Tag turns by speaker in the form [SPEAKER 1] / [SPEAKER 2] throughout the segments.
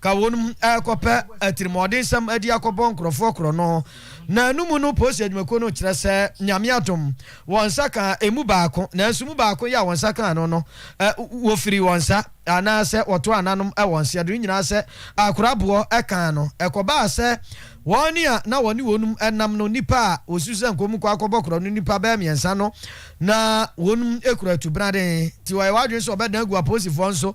[SPEAKER 1] ka wɔn mu rekɔpɛ atirimɔdensɛm adi akɔbɔ nkurɔfoɔ korɔno, na ɛno mu no Posi adwumakuo no kyerɛ sɛ Nyame adom wɔn nsa kaa ɛmu baako, nanso mu baako yi a wɔn nsa kaa no no wɔfirii wɔn nsa anaa sɛ wɔtoaa nanom wɔ nseɛdo no nyinaa sɛ akoraboɔ kaa no, ɛkɔbaa sɛ wɔn a na wɔne wɔn mu nam no nnipa a wɔsusu sɛ nka wɔnkɔ akɔbɔ korɔno no nnipa bɛyɛ mmiɛnsa no na wɔn kura atubraden nti wɔyɛ wɔn adwene sɛ wɔbɛdan agu aposifoɔ nso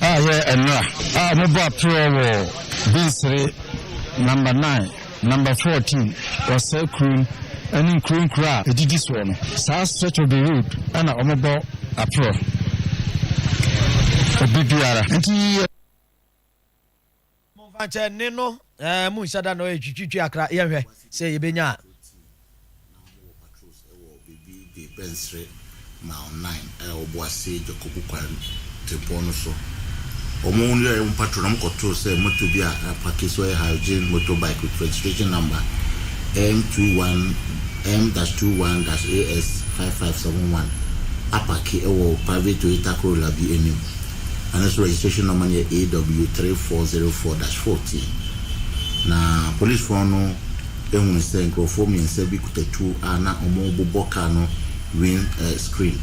[SPEAKER 2] a yɛ mmra a ɔmo bɔ apereɔ wɔ Binsere Number Nine, Number Fourteen wɔ saa kuro no ɛne nkuro nkuro a ɛdidi soɔ no. Saa stretch of the road ɛna ɔmo bɔ apereɔ obi biara. Nti.
[SPEAKER 1] Momfa nkyɛ ne no eh, monhyɛ da no eh, Twitwitwi akra yɛnhwɛ sɛ yɛbɛnya a.
[SPEAKER 3] Bɛnsere Mile 9 a ɛwɔ Boase Dwakobu kwan tempɔn no so. Wɔn yɛɛ wɔn patrol na wɔkɔtoo sɛ moto bi a apake so yɛ Hyojin motorbike with registration number M21 M-21-AS5571 apake wɔ private Toyota Corolla bi anim. na ne so registration number no yɛ AW three four zero four dash fourteen. Na polisfoɔ no hunu sɛ nkurɔfoɔ mmiɛnsa bi kuta tuo a na wɔrebobɔ kaa no wind screen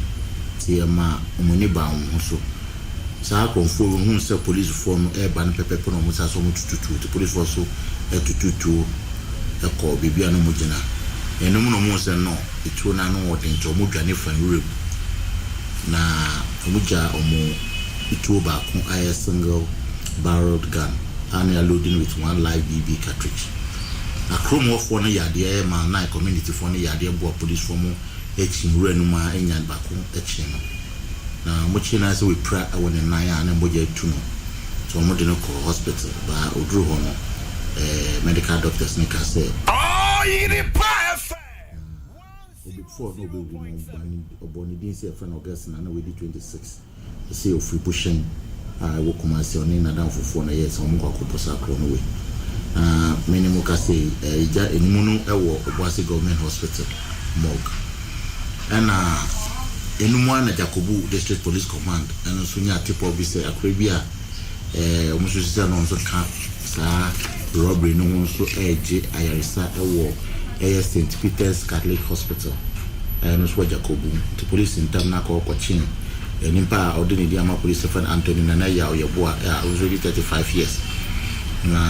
[SPEAKER 3] nti ɛma wɔn ani baa wɔn ho so. Saa akorɔmfoɔ yi wɔhunu sɛ polisfoɔ no reba no pɛpɛɛpɛ na wɔsan so wɔtutu tuo nti polisfoɔ nso tutu tuo kɔɔ baabi a na wɔgyina. Ɛno mu na wɔhunu sɛ no. etuo no ano wɔden nti wɔn dwane fa nwura mu na wɔn gyaa wɔn etuo baako a ɛyɛ single barreled gun a na yaloadi no with one live BB cartridge na kurom hɔ foɔ no yɛ adeɛ ɛyɛ mile nine community foɔ no yɛ adeɛ boa police foɔ mo kyi nwura no mu a ɛnyan baako kye no na wɔn kye no ara sɛ wapira wɔ ne nan a na mogya atu no nti wɔn de no kɔ hospital baa oduru hɔ no ɛɛ medical doctors no kaa sɛ. Ɔyere pa ɛfɛ. Na obefu a na obewu no ba no, ɔbɔɔ ne din sɛ yɛfrɛ no Augustine a na wadi 26. Ɔsɛ ɔfiri Bohyɛn a ɛwɔ Kumasi, ɔne n'adamfo foɔ na ɛyɛɛ saa, wɔn kɔ akɔbɔ saa korɔ no wei. Na me ne mo kasa yi, ɛgya anim no ɛwɔ Obuasi Government Hospital morgue. Ɛna ɛnum ara na Djakobu District Police Command ɛno nso nyaa tip off bi sɛ akora bi a eh, wɔn nso sisa na wɔn nso ka saa robbery no ho nso regye ayaresa wɔ ɛyɛ St Peter's Catholic Hospital ɛyɛ no nso wɔ Jakobu nti polisi ntam no akɔ kɔkyen eh, nipa a ɔde ne di ama polisi fɛn Anthony Nana yi a ɔyɛ boa eh, a ɔno nso di 35 years na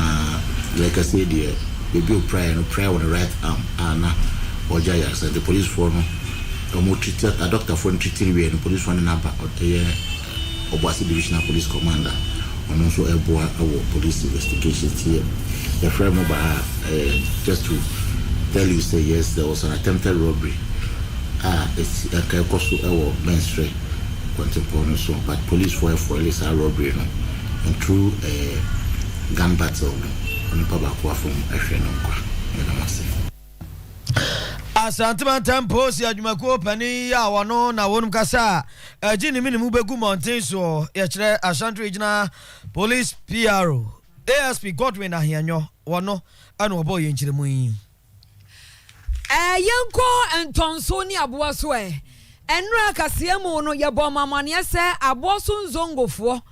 [SPEAKER 3] yɛkɛse deɛ beebi opiraeɛ no piraeɛ wɔ ne right arm a na ɔgye ayaresa nti polisifoɔ no wɔn titi adɔktafoɔ no titiri wie no polisifoɔ ne n'aba ɛyɛ Obuasi Divisional Police Commander, ɔno nso reboa wɔ police investigation nti yɛfrɛɛ mo baa a ɛyɛ just to tell you sɛ yes there was an attempted robbery a ɛsi ɛka ɛkɔ so wɔ Mɛnsrɛ Kwantempɔn no so but policefoɔ ɛfoile saa robbery no and through ɛɛ gun battle no onipa baako afam ahwere no nkwa. Meda mo ase.
[SPEAKER 1] Asante Mantam Polisi Adwumakuo Panin yi a wɔno na wɔnom kasa a ɛgye ne menem bɛgu mmɔnten soɔ, yɛkyerɛ Ashanti Regional Police PRO, ASP Godwin Ahianyɔ, wɔno na wɔbɔɔ yɛn nkyerɛmu yi. Ɛɛ
[SPEAKER 4] yɛnkɔ ntɔnso ne aboa so ɛ. Ɛnora kaseɛmu no yɛbɔɔ mo amaneɛ sɛ aboɔ so nzongofoɔ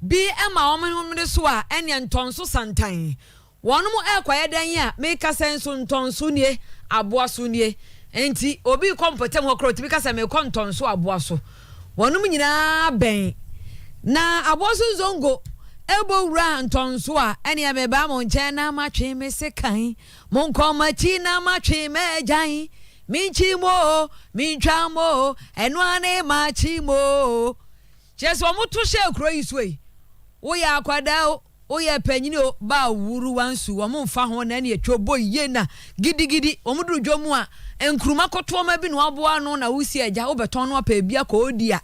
[SPEAKER 4] bi ma wɔn homene so a ɛneɛ ntɔnso santan. Wɔnom ɛɛkɔyɛ dɛn yi a meka sɛ nso ntɔnso nie, aboaso nie. Enti obi rekɔ mpɔtam hɔ koraa ɔtumi ka sɛ merekɔ ntɔnso aboaso. Wɔnom nyinaa bɛn. Na aboaso nzongo ɛbɔ wura ntɔnso a, ɛneɛ mebaa mo nkyɛn na matwe me sekan. Monkɔ m'akyi na matwe m'agyan. Menkyi mo o, mentwa mo o, ɛno ara ne makye mo o. Kyerɛ sɛ wɔto hyɛɛ kuro yi so yi, woyɛ akwadaa o, Woyɛ panyin o, ba a ɔwuru wansu wɔn mfa ho na ɛne atwa ɔbɔ yie na gidigidi wɔn duru dwa mu a nkuruma kɔtoɔma bi na wɔaboa ano na wosi agya wobɛtɔn no apɛ bi akɔ ɔredi a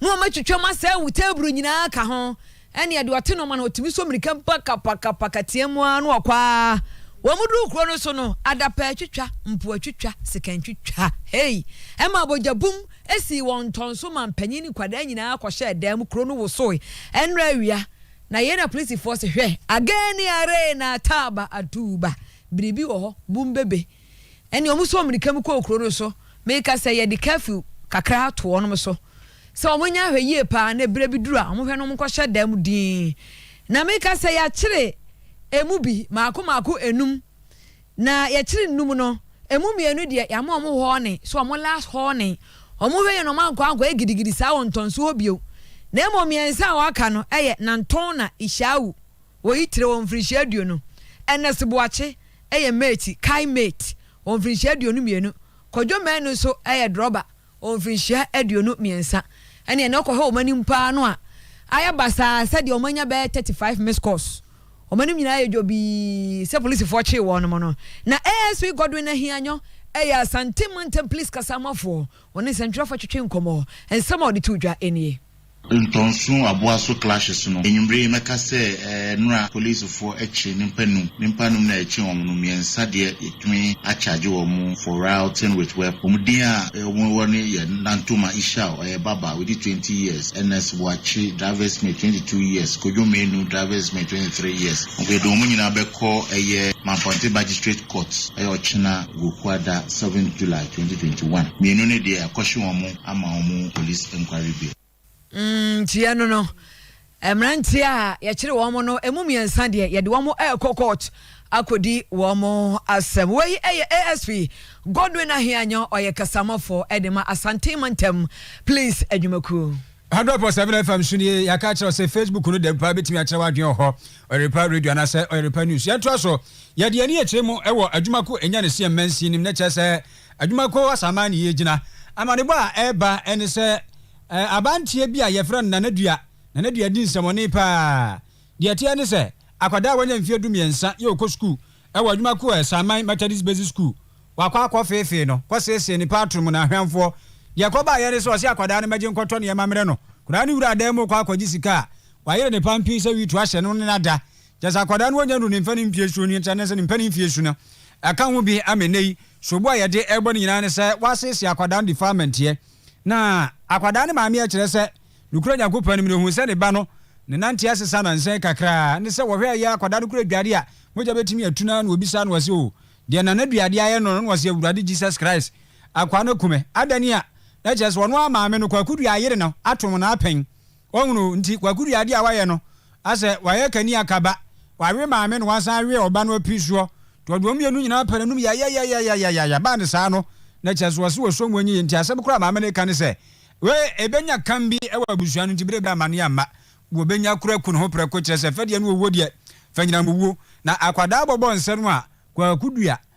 [SPEAKER 4] na wɔn atwitwa mu asɛe wo teeburu nyinaa ka ho ɛneɛ deɛ ɔte nɔma no ɔtumi sɔ mirika pakapakapaka team ara na ɔkɔ ara wɔn duru kuro no so no adapa atwitwa mpo atwitwa sika ntwitwa hei ɛma bogya bum sii wɔn ntɔnso ma mpanyin ne nkwadaa nyinaa kɔhyɛɛ dan mu kuro no wosoe ɛnora awia Na yei na polisifoɔ se, Hwɛ, agani aree na ataaba atuuba, biribi wɔ hɔ, bum bebe. Ɛnneɛ wɔsɔɔ mmirika mu kɔɔ kuro no so. Meka sɛ, Yɛde curfew kakra ato wɔn so sɛ wɔnyɛ ahwɛ yie pa ara, na ɛberɛ bi duru a, wɔhwɛ na wɔnkɔhyɛ dan mu dinn. Na meka sɛ, Yɛakyere emu bi, mmaako mmaako nnum. Na yɛkyere nnum no, ɛmu mmienu deɛ, yɛama wɔn hɔɔne, so wɔn last hɔɔne. Wɔhwɛ yie na wɔankɔ ankɔyɛ gidigidi saa wɔ ntɔnso hɔ bio. Na mmom mmiɛnsa a wɔaka no yɛ Nantonna, Ishawu, wɔ Itire wɔ mfirinhyia aduonu, Ernest Boakye, ɛyɛ Meeti, Kai Meet, wɔ mfirinhyia aduonu mmienu, Kojo Manu nso yɛ Drɔba, wɔ mfirinhyia aduonu mmiɛnsa ɛneɛ na ɔkɔhwɛ wɔn anim paa no a ayɛ basaa sɛ deɛ wɔn anya bɛyɛ thirty five missed calls wɔn anim nyinaa ayɛ dwobii sɛ polisifoɔ kyee wɔn nom no na asp Godwin Ahianyo ɛyɛ Asante mantam police kasaamafoɔ wɔne nsɛntwerɛfoɔ twetwee nkɔmmɔ nsɛm a ɔde too dwa nie. Ntɔnso
[SPEAKER 3] aboa so clashes no enyimber yi mɛka sɛ nra policefoɔ akye nimpa num, nimpa num no a ɛkye wɔn no mmiɛnsa deɛ yɛtumi acharge wɔn for rioting with weapon. Wɔn din a wɔn wɔ no yɛ Nantoma Ishao, ɔyɛ baba, wadi twenty years, Ernest Boakye, driver's mate, twenty two years, Kojo Menu, driver's mate, twenty three years. Wɔde wɔn nyinaa bɛkɔ ɛyɛ Manfante Magistrate Court ɛyɛ ɔkyena Wuokuada seventh July twenty twenty one. Mmienu no deɛ yɛakɔhye wɔn. ama wɔn police inquiry
[SPEAKER 4] bill. Nkyia no no, mmeranteɛ a yɛkyere wɔn no ɛmu mmiɛnsa deɛ yɛde wɔn ɛrekɔ court akɔdi wɔn asɛm. Wei ɛyɛ ASP Godwin Ahianyo ɔyɛ kasamafo ɛde ma Asante Mantam Police Adwumakuo. Hundred point seven
[SPEAKER 2] FM so nie yɛaka akyerɛ sɛ Facebook no dɛm paa bɛtumi akyerɛ w'adwene wɔ hɔ ɔyerepa radio anaasɛ ɔyerepa news yɛntoa so yɛde ani akyerɛ mu ɛwɔ adwuma ko ɛnya ne seɛ mmansin nim ne kyerɛ sɛ Adwumakuo Asaman ne yɛgyina. Amanebɔ a ɛreba ne sɛ abanteɛ bi a yɛfrɛ no Nanadua, Nanadua di nsɛmɔne paa. Deɛ ɛteɛ ne sɛ akwadaa a wanya mfeɛ du mmiɛnsa yɛ ɔkɔ sukuu wɔ adwumakuo Asaman Methodist Basic School, wakɔ akɔ feefee no, kɔ seesee ne paatro mu na ahwɛnfoɔ. Deɛ ɛkɔ baeɛ ne sɛ ɔse akwadaa no mmɛgye nkɔtɔ nneɛma mmrɛ no, akwadaa no wura dan mu rekɔ akɔgye sika a, wayere ne pampii sɛ witu ahyɛ no ne n'ada Kyerɛ sɛ akwadaa no ɔnya nnuru ne mfɛnee mfeɛ su no, kyerɛ ne sɛ ne mfɛnee mfeɛ su no ɛka ho bi ama nnɛ yi. Sobo a yɛde rebɔ no nyinaa ne sɛ wɔasiesie akwadaa no defilementeɛ na akwadaa no maame a ɛkyerɛ sɛ nokura Nyankopɔn anim no hunu sɛ ne ba no ne nante asesa nansa yi kakra ne sɛ wɔhwɛ a ɛyɛ akwadaa no kura adwuadeɛ a mogya bɛtumi atu no ara na wɔbisa no wɔse o deɛ nana duadeɛ ayɛ no no na wɔse Awurade Jesus Christ akwaa no akumɛ adane a na kyerɛ sɛ ɔno ara maame no kwaku dua ayere no atom no apɛn Wahunu nti Kwaku de adeɛ a wayɛ no asɛ wayɛ kani akaba, wawe maame na wasan awe ɔba no apiri soɔ nti ɔde wɔn mmienu nyinaa pɛ n'anom yayayayayayaya baa ne saa no na kyerɛ sɛ ɔse ɔsɔ mu anyi yie nti asɛm koro a maame no reka ne sɛ wei ɛbɛnya kam bi wɔ abusua no nti berɛ bi a amaneɛ amma wɔbɛnya koro aku ne ho prɛko kyerɛ sɛ fɛ deɛ no ɔwuo deɛ fɛ nyinam owuo na akwadaa bɔbɔ nsɛ no a Kwaku dua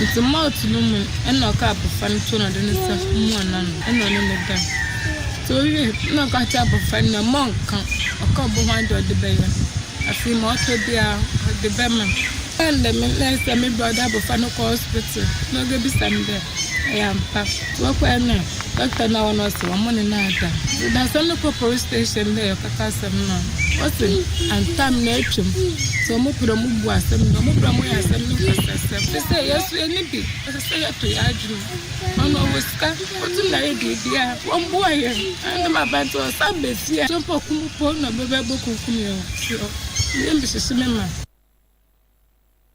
[SPEAKER 5] Ntsi malt no mu no nna ɔkaa abofra no tsir na ɔdze ne nsa muaa n'ano na ɔnye no dae. Ntsi owiei no nna ɔka kyerɛ abofra no dɛ, Mma ɔnnka, ɔka obohua dɛ ɔdze bɛyɛ. Afei ma ɔtɔ biara ɔdze bɛma me. Osiandɛ me nɛɛs dɛ me bra ɔdze abofra no kɔɔ hospital na oebisa me dɛ ɔyɛ ampa. Wɔkɔe no, dɔkta no a ɔwɔ hɔ no ɔse wɔn ne no ada. Dasani no kɔɔ polis station dɛ ɔrekɔka asɛm no a, ɔse antam na atwam ntsi wɔn pɛ dɛ wɔn bu asɛm no dɛ wɔn pɛ dɛ wɔn yɛ asɛm no nkasasɛm. Te sɛ yɛn so yɛn ni bi, ɔsɛ sɛ yɛtɔ yɛn adwene mu. Ɔno ɔwɔ sika, otum dɛ ayɛ biribiara, wɔn boa yɛn. Ɛno dɛm aber ntsi ɔsan ba fie a, mpo ɔko mpo na ɔbɛba ebokunkum yɛn wɔ fie hɔ. Iyi mebɛhyehye me ma.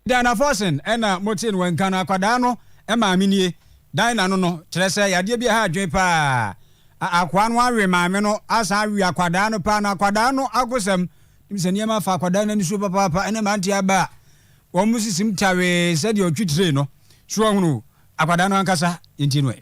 [SPEAKER 5] Diana
[SPEAKER 6] Fossing na motee no wɔ nka no, akwadaa no maame nie. Dinah no no, kyerɛ sɛ yadeɛ bi a ɛha adwene pa ara. Akoa no awe maame no asan awe akwadaa no paa na akwadaa no akosɛm. Nim sɛ nneɛma afa akwadaa no ani so papaapa ɛne mmerante aba a wɔn sisim tawee sɛdeɛ ɔtwi tire no. So wahunu akwadaa no ankasa? Yɛntie no ɛ.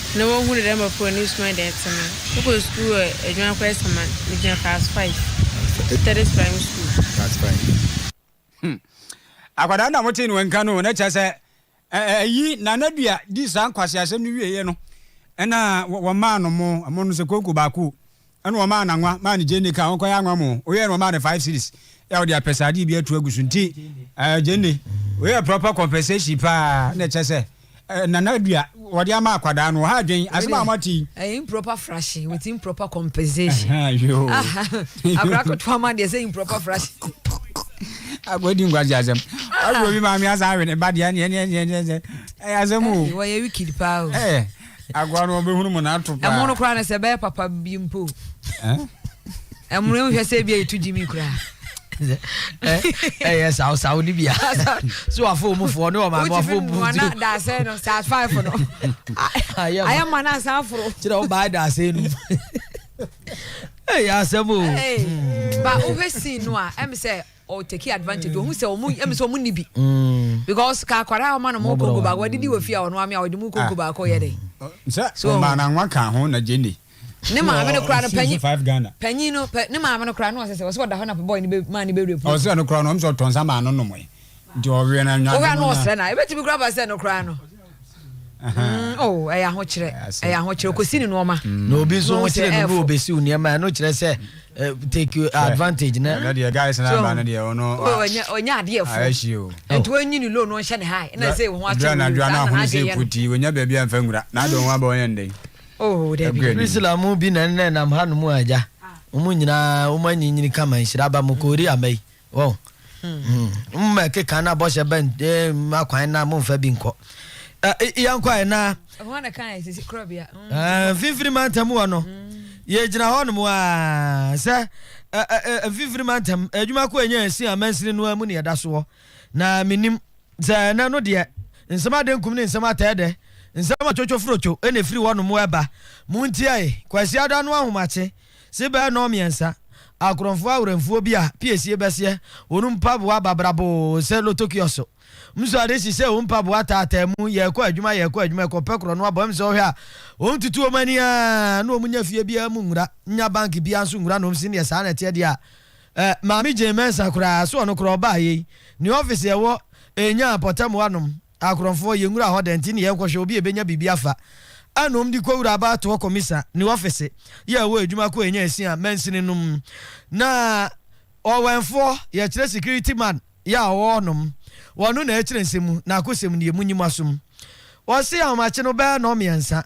[SPEAKER 5] Na wohu dɛ dɛm mbofra hɔn esuman dɛ etse no, mokɔ skuul wɔ Edwuma Kwaa Esaman, migyina class five, Methodist Primary School. Class five. Hmm.
[SPEAKER 6] Akwadaa no a motee no nka no, na kyerɛ sɛ ayi Nana Dua di saa nkwaseasɛm no wieeɛ no, ɛna wɔmaa no mo, mo no sɛ konko baako, Ɛna ɔmaa no anwa maa ne Gyenni kaa ɔnkɔyɛ anwa mo. Ɔyɛɛ no ɔmaa no five cedis. Yɛ a ɔde apɛsaadeɛ bi atu agu so nti eh, Gyenni wei yɛ proper compensation paa na ɛkyɛ sɛ eh, nana dua wɔde ama akwadaa no ɔha adwen asɛm a moate yi. Ɛyɛ improper fraction
[SPEAKER 4] with improper compensation. Akwadaa ketewa ma deɛ sɛ improper fraction.
[SPEAKER 6] Agodi nkwasi asɛm. Agodi maame asan awe ne ba deɛ ɛne ɛne ɛne ɛne ɛne ɛyɛ asɛm o. Wɔyɛ wicked paa
[SPEAKER 4] o. Ɛɛ. Agoa no
[SPEAKER 6] ɔbɛhunu mu na ato paa. Ɛmo no koraa no sɛ ɛbɛyɛ
[SPEAKER 4] papa bi mpo. Ɛmo no hwɛ sɛ ebi a yɛtu gyimi koraa.
[SPEAKER 1] Ɛyɛ saw saw ni bia. So afo mu fo ne o ma ma fo bu. Wana da sɛ no
[SPEAKER 4] sa five no. Ayɛ ma na san foro. Kyerɛ o ba da sɛ
[SPEAKER 1] no. Ɛyɛ asɛm o. Ba
[SPEAKER 4] o hwɛ scene no a ɛm sɛ ɔ take advantage ohun sɛ ɔmo ɛmi sɛ ɔmo ni bi mm. because ka akwadaa ɔma no mo konko baako ɔde di wɔ fie a ɔno amia ɔde mo konko ah. baako yɛ dɛ. sɛ ɔmaa na
[SPEAKER 6] nwa ka ho na gyeni. ne maame no
[SPEAKER 4] kura no panyin panyin no
[SPEAKER 6] pɛ ne maame
[SPEAKER 4] no kura no ɔsɛ sɛ ɔsɛ ɔda hɔ na bɔɔl ne bɛ maa ne bɛ rape. ɔsɛ no kura no ɔmo sɛ ɔtɔn
[SPEAKER 6] sa maa no nom yi nti ɔwia na nwa. ɔwia no ɔsrɛ na ebetumi
[SPEAKER 4] kura ba sɛ no kura no. Mm, oh, ɛyɛ ahokyerɛ ɛyɛ ahokyerɛ kɔsi ne nnoɔma mm. na obi nso wokyerɛ
[SPEAKER 1] no no wɔbɛsiw nneɛma ɛno kyerɛ sɛ eh, take advantage na ɛno deɛ guys na aba no
[SPEAKER 6] deɛ ɔno ɔnyɛ adeɛ
[SPEAKER 4] fo ɛnti wɔnyi ne loan ɔnhyɛ ne hae na sɛ ho akyerɛ no adwa no ahono sɛ
[SPEAKER 6] ɛkuti wɔnya baabi amfa nwura na adɔn ho aba ɔyɛ ndɛn oh dabi
[SPEAKER 4] priscilla mu bi na nnɛ
[SPEAKER 1] nam ha no mu agya wɔn nyinaa wɔn anyinyini kama nhyira aba mu kɔɔri ama yi Wɔn mma ɛkeka na bɔhyɛ bɛn mma eh, kwan na momfa bi nkɔ yɛnkɔ ayɛ na
[SPEAKER 4] mfimfini
[SPEAKER 1] mantam wɔ no yɛgyina hɔ nom a sɛ mfimfini mantam adwuma ko ɛnyɛ ɛsi amansini no mu ne ɛda soɔ na menim sɛ ɛnɛ no deɛ nsɛm ade nkum ne nsɛm atɛɛ dɛ nsɛm atwotwo forotwo ɛna ɛfiri hɔ nom ɛba montiae kwasiada no ahomakye Se bɛɛ nɔɔ mmiɛnsa, akorɔnfoɔ awerɛmfoɔ bi a piesie bɛseɛ wɔn mpaboa babraboo se loto kiɔso. Mso ade si se wɔn mpaboa taataa mu, yɛɛkɔ adwuma, yɛɛkɔ adwuma, ɛkɔpɛ korɔ no abɔ mso wɔhwɛ a, wɔn tutu wɔn ani aa na wɔn nya fie biara mu nwura, nya bank biara nso nwura na wɔn se neɛ saa na ɛteɛ deɛ a, eh, Maame Jane Mensah koraa, se ɔno koraa ɔbaayɛ yi, ne office ɛwɔ Enyah Pɔtɛmoa nom. Akorɔmfoɔ, yɛnwura hɔ dɛn nti ne yɛnkɔhwɛ obi a ɛbɛnya biribi afa anom de kɔwura abatoɔ kɔmisa ne ɔfese yi a ɛwɔ adwuma ko a ɛnya ɛsi a mansini nom na ɔwɛnfoɔ yɛkyerɛ security man yi a ɔwɔ hɔ nom wɔno na ɛkyerɛ nsɛm mu na akosɛm nie monyi mo asom wɔse ahomakye no bɛyɛ nɔmmiɛnsa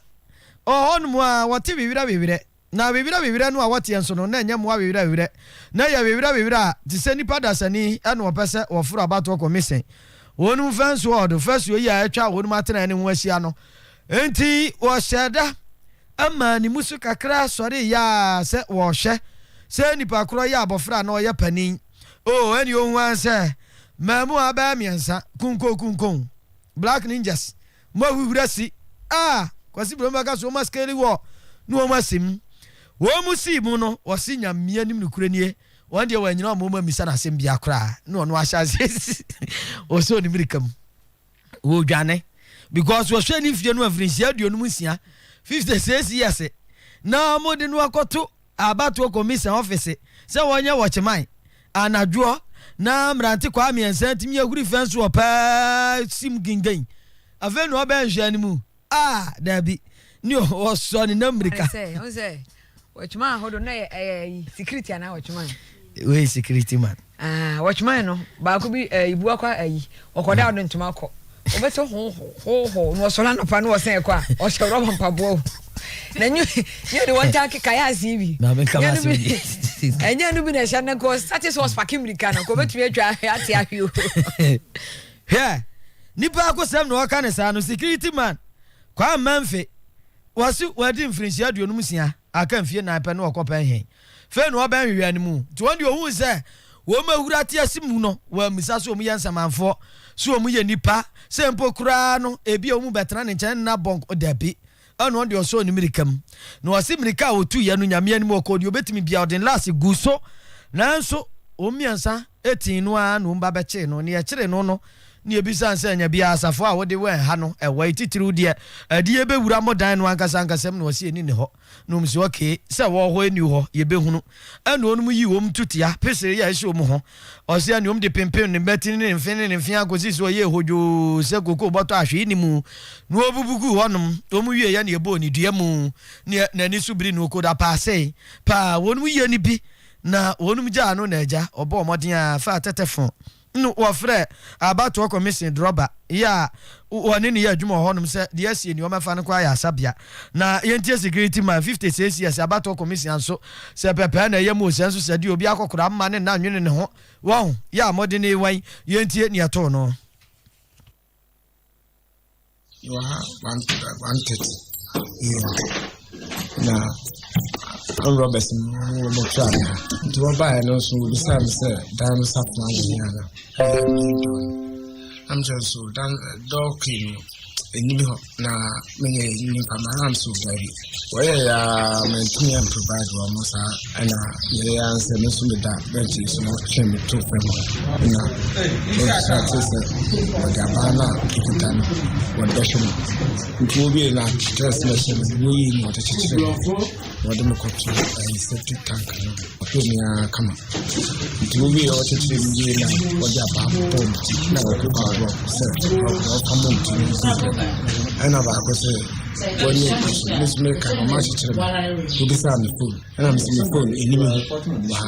[SPEAKER 1] ɔwɔ hɔ nom a wɔte wewerɛ wewerɛ Na awewerɛwewerɛ no a wɔteɛ nso no, na ɛnyɛ mmoa awewerɛwewerɛ. Na ɛyɛ awewerɛwewerɛ a, te sɛ nnipa dasani na wɔpɛ sɛ wɔforo abatoɔ kɔ Mise. Wɔn mfɛnsoɔ a wɔde fasuo yi a atwa wɔn atenaeɛ no ho ahyia no, enti wɔhyɛɛ da maa ne mu so kakra sɔreeɛ ara sɛ wɔrehwɛ sɛ nipa korɔ yɛ abɔfra anaa ɔyɛ panin. O, ɛnneɛ ɔhuu ara sɛ mmaamua bɛyɛ mmiɛnsa, kunkonkunkon, black ninjas, Mo ahuhurasi a Kwasi Brɔn bɛka so wɔn askeri wɔ ne wɔn asɛm mu. Wɔn sii mu no wɔse Nyamea nim nokorɛ nie, wɔn deɛ wɔanyina wɔn mu ammisa no asɛm biara koraa na ɔno ahyɛ aseɛ ɔsɔɔ ne mirika mu ɔredwane because wɔhwɛɛ ne mfie no mfirinhyia aduonum nsia, 56 years, na wɔde no akɔto Abatoɔ Commission ɔfese sɛ wɔnyɛ wɔ Kyemae anadwoɔ na mmerante kwaa mmiɛnsa atumi ahuri fɛ nso wɔ paa sim gingin afei na ɔbɛɛ nhwɛɛ no mu ah daabi ne ɔwɔ sɔ ne nam mmirika. Ɔne sɛ ɔne sɛ
[SPEAKER 4] wɔ Kyemae hɔ do na ɛyɛ ɛyɛ ayi security anaa wɔ Kyemae. Wei security
[SPEAKER 1] man. Ah watchman no
[SPEAKER 4] baako bi eh, ibu akɔ ayi ɔkɔda hmm. ɔde ntoma kɔ ɔbɛsɛ hohoho na ɔsɔre anɔpa na ɔsɛn kɔ a ɔhyɛ rɔba mpaboa o na nye nye de wɔn taa keka yɛ ase bi
[SPEAKER 1] ɛnyɛ no bi
[SPEAKER 4] na ɛhyɛ no nkɔ sate sɛ ɔspake mmirika no kɔbɛtumi atwa ate ahwe o
[SPEAKER 1] hwɛ nipa akosɛm na ɔka ne saa no security man kwaa mmanfe wɔse wɔadi mfirinhyia aduonum sia Aka mfie nnan pɛ na ɔkɔpɛn hɛn. Fei na ɔbɛn hwehwɛɛ no mu, ntsi hɔn de ohun sɛ hɔn mehura tse ase mu no, wɔammisa sɛ wɔyɛ nsamanfoɔ, sɛ wɔyɛ nnipa, sɛ mpo koraa no ebia wɔbɛtena ne nkyɛn nna bɔn kɔ, dabi. Ɛna ɔno de ɔsɔɔ ne mmirika mu, na ɔse mmirika a ɔtuiɛ no Nyame anim ɔkɔɔ deɛ ɔbɛtumi biara, ɔde ne laase guu so, nanso wɔn mmiɛnsa Etee no ara na wɔn ba bɛkyee no. Nea ɛkyeree no no, na yebisa no sɛ, Anya biara asafo a wode wɛn ha no, ɛwɔ he? Titiriw deɛ, ɛde yebewura mo dan no ankasa ankasa mu? Na ɔse, Eni ne hɔ. Na wɔn se, Okay, sɛ ɛwɔ hɔ eni hɔ, yebehunu. Ɛnna wɔnom yii wɔn ntutia, peseree yɛ ɛhyɛ wɔn ho. Ɔse, Ɛnna wɔn de pempem ne mmati ne ne mfe ne ne mfe ara kosii sɛ ɔyɛɛ hodwoo sɛ kokoo bɔtɔ a hwee nni mu, na wɔbubu guu hɔnom. Wɔn wieeɛ na yebɔɔ no dua mu, na n'ani so biri no, okodapaasee paa. Wɔnom yɛ no bi Na wɔnom gyaa no na agya ɔbɔɔ mmɔden ara faa tɛtɛfon no wɔfrɛɛ abatoɔ kɔmehyen drɔba yi a wɔne no yɛ adwuma wɔ hɔnom sɛ deɛ asie nnoɔma fa no kɔ ayarasabea na yɛntie security man fifty six years abatoɔ kɔmehyen nso sɛ pɛpɛɛ na ɛyɛ mu sɛ nso sɛ deɛ obi akɔkora mma ne nna nwene ne ho wɔho yɛ a mmɔden ne wan yɛntie neɛ ɛtoo no.
[SPEAKER 2] Wɔ ha one one thirty a.m. na armed robbers no wɔtwaa me ha nti wɔbaeɛ no nso wɔbisaa me sɛ dan no safoa wɔ hia no ɛyɛ dɔ no na mekyerɛ so dan dɔɔ kii no ɛnyini hɔ na meyɛ nyimpa mara nso daabi wɔyɛ yɛ a mantumi amprovide wɔn mo saa ɛna yɛyɛ a nsɛ me nso meda bɛnkye so na ɔtwe me to fam na ɔbisa te sɛ ɔde abaa no a ɔkuta no wɔde bɛhwɛ no nti wowie no a kyerɛ sɛ ɛhyɛ no woyii no ɔde kyekyere wɔde me kɔto eh, septic tank no bi ɔhwɛ me ara kama nti wowie a ɔkyekyere me wie na ɔde abaafo bɔɔ me ti na ɔko baa rɔk sɛ ɔka mo nti no si ɛna baako sɛ wɔne ɛkɔ so mesome ka ɔma akyekyere me wobisaa me fon ɛna mese me fon ɛnim ho wɔ ha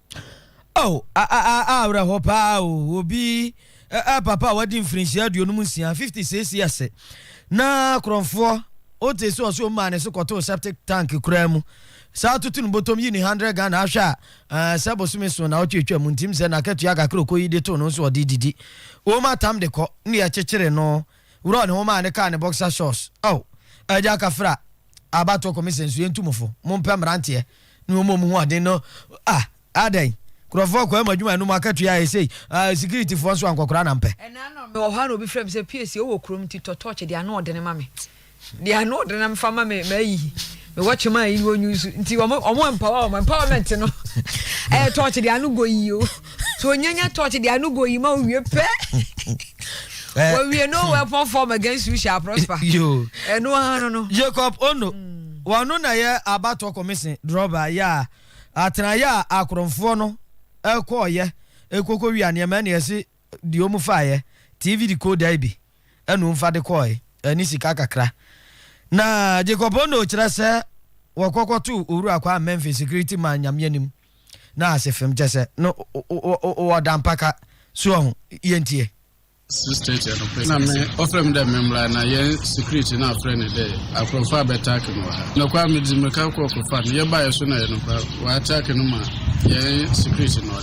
[SPEAKER 1] Oh, a, a, a, awerɛhoɔ paa o, obi, ɛ, ɛ, papa a wadi mfirinhyia aduonum nsia, 50 seesei ɛsɛ, na korɔmfoɔ, wotee sɛ ɔse ɔmaa ne so kɔtoo septic tank koraa mu, saa toto ne botom yi ne 100 Ghana, ahwɛ a, ɛ, sɛ bosome so na ɔtwetwa mu, ntim sɛ n'akatua kakra ɔkɔyi de too no nso ɔde didi, wɔn atam de kɔ, ne yɛkyekyere no, Wura ɔne wo maa ne kaa ne boxer shorts oh Agya Kafra abatoɔ commission so yɛntu mo fo mompɛ mmeranteɛ ne wɔn a wɔn ho ɔden no ah adɛn nkurɔfoɔ kɔ ɛmu adwuma ɛnum akatua yɛ sei ah security foɔ nso a nkɔkora na mpɛ. Ɛnaa no me wɔ hɔ a na obi
[SPEAKER 4] frɛ me sɛ Piesie wowɔ kurom nti tɔ torch de ano ɔdene ma me. Deɛ ano ɔde nam fa ma me ma yi me wɔ kyema yi wɔ nyusu nti wɔn wɔn empower wɔn empowerment no ɛyɛ eh, torch deɛ ano go yi o so onyanya torch deɛ ano go yi ma owie pɛ eh. wɔwie no wɔ ɛpɔn form against you shall prosper ɛno
[SPEAKER 1] ara no no.
[SPEAKER 4] Jacob Ono
[SPEAKER 1] hmm. wɔn no na yɛ abatoɔ kɔmisen drɔba yɛ a atenayɛ a akorɔmfoɔ no ɛkɔɔyɛ ekoko wia nneɛma ɛna ɛsi. deɛ ɔmu faeɛ, TV decoder yi bi ɛna ɔmfa de kɔɔe, ɛne sika kakra. Na Jacob Ono kyerɛ sɛ wɔkɔ kɔto Owura Kwame Memphi security man Nyame anim na ase fem kyɛ sɛ no wɔda mpaka so ɔho, yɛntie. 6:30
[SPEAKER 7] anɔpa na me ɔfrɛ me dɛ memmra na yɛn security no afrɛ no dɛ akorɔmfo abɛtaake no wɔ ha. Nokwa, medze mmirika kɔɔ kɔfaa no, yɛbaeɛ so na ɛyɛ nokwa, wɔataake no ma yɛn security no.